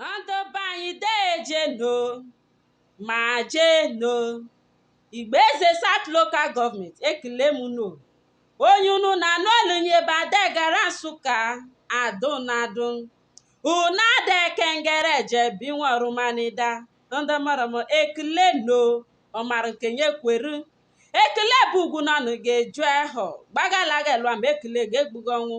ndị be anyị dejenụ ma jenụ igbo eze south local government ekele m nụ onye unu na-anụ olu nye ebe adegara nsụka adụnadụ una adekengere jebi nwarumanida ndị mụrụ m ekele nụ ọ mara nke nye kweru ekele bụ ugwu na ọnụ ga-eju ahụ gbagalaga lụa ma ekele ga-egbugo ọnwụ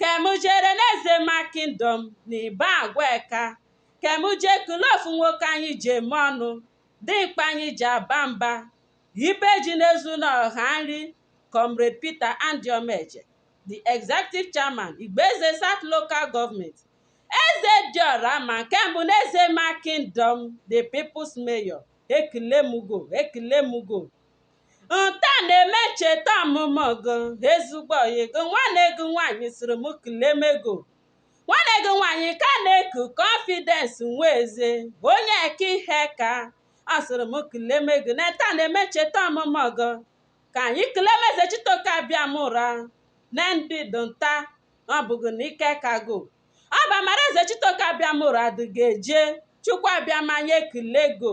ka mụ jere n'ezema kingdom na ibagwa aka ka mụ je kele ofu nwoke anyị ji eme ọnụ dimkpa anyị ji aba mba ibe ji na-ezu na ọha nri comrade peter andy omeje the executive chairman igbo eze south local government eze dị ọra mma nke mbụ n'ezema kingdom the people's mayor ekele mụ gị ekele mụ gị nta na-eme ncheta ọmụmụ gị ezigbo ọyị gị nwanne gị nwaanyị sịrị m keleme gị nwanne gị nwaanyị ka a na-eku confidence nweze onye eke iheaka ọ sịrị m keleme gị na nta na-eme ncheta ọmụmụ gị ka anyị keleme ezechitoke abịamụra na ndị dị nta ọ bụghị na ike aka gị ọ bụ amara ezechitoke abịamụra dị ga-eje chukwu abịama nye kilego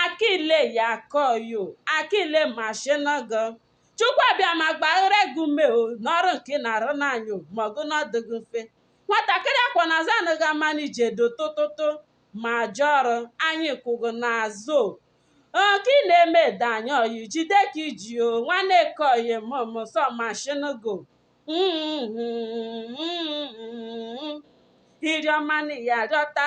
akile ya kọyo akile mashinago chukwu abịama gbaara gị ume o n'ọrụ nke ị na-arụ n'anyị o ma ọgụ n'ọ dịghị mfe nwatakịrị a kwọ na azụ anaghị ama n'ije do tụtụtụ ma ajọ ọrụ anyị kwụ gị n'azụ o nke ị na-eme adị anyị ọyị jide ka i ji o nwanne kọyi mụmụ sọ mashinago iriọma na ya rịọta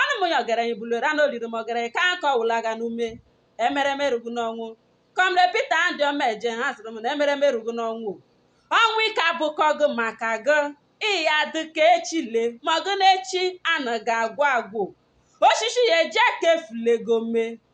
ọnụ m ya ọgaranya bulere na oliri m ọgaranya ka aka ọwụla aga n'ume emereme rugu n'ọnwụ comrade peter andy omeje ha sịrị m na emereme rugu n'ọnwụ ọnwụ ike abụkọ gị maka gị ị ya-adị ka echi le ma gị n'echi anaghị agwụ agwụ osisi ya eji aka efulego mee